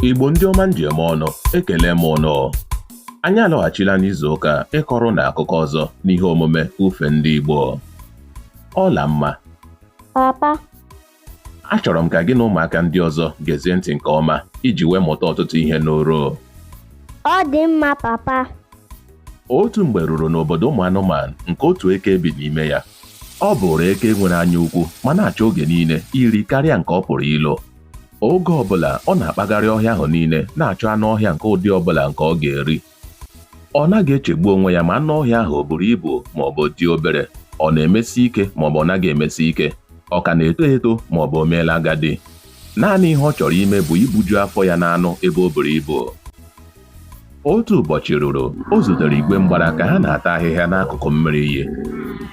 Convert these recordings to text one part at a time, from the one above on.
Igbo ndị ọma m ji eme ọnụ ekele m ụnụ anyị alọghachila n'izu ụka ịkọrọ ụnụ akụkọ ọzọ n'ihe omume ufe ndị Igbo Ọlamma papa achọrọ m ka gị na ụmụaka ndị ọzọ gezie ntị nke ọma iji wee mụta ọtụtụ ihe n'oro ọ dị mma papa otu mgbe ruru n'obodo ụmụ anụmanụ nke otu eke bi n'ime ya ọ bụrụ eke nwere anya ukwu ma na-achọ oge niile iri karịa nke ọ pụrụ ilo Oge ọbụla ọ na-akpagharị ọhịa ahụ niile na-achọ anụ ọhịa nke ụdị ọbụla nke ọ ga-eri. Ọ naghị echegbu onwe ya ma anụ ọhịa ahụ o buru ibu ma ọ bụ dị obere, ọ na-emesi ike ma ọ bụ ọ naghị emesi ike, ọ ka na-eto eto ma ọ bụ o meela agadi. Naanị ihe ọ chọrọ ime bụ ibuju afọ ya n'anụ ebe o buru ibu. Otu ụbọchị ruru, o zutere igwe mgbara ka ha na-ata ahịhịa n'akụkụ mmiri iyi.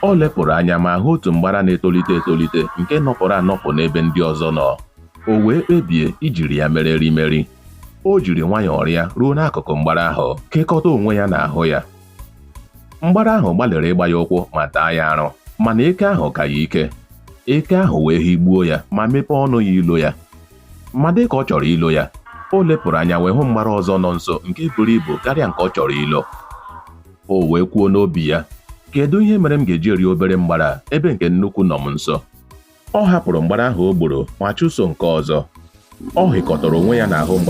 O lepụrụ anya ma hụ otu mgbara na-etolite etolite nke nọpụrụ anọpụ n'ebe ndị ọzọ nọ. O wee kpebie ijiri ya mere erimeri. O jiri nwayọọ rịa ruo n'akụkụ mgbara ahụ, kekọta onwe ya n'ahụ ya. Mgbara ahụ gbalịrị ịgba ya ụkwụ ma taa ya arụ, mana eke ahụ ka ya ike. Eke ahụ wee higbuo ya ma mepee ọnụ ya ilo ya. Ma dị ka ọ chọrọ ilo ya, o lepụrụ anya wee hụ mgbara ọzọ nọ nso nke buru ibu karịa nke ọ chọrọ ilo. O wee kwuo n'obi ya, Kedu ihe mere m ga-eji eri obere mgbara a ebe nke nnukwu nọ m nso? Ọ hapụrụ mgbara ahụ o gburu ma chụso nke ọzọ. Ọ hịkọtara onwe ya n'ahụ mgbara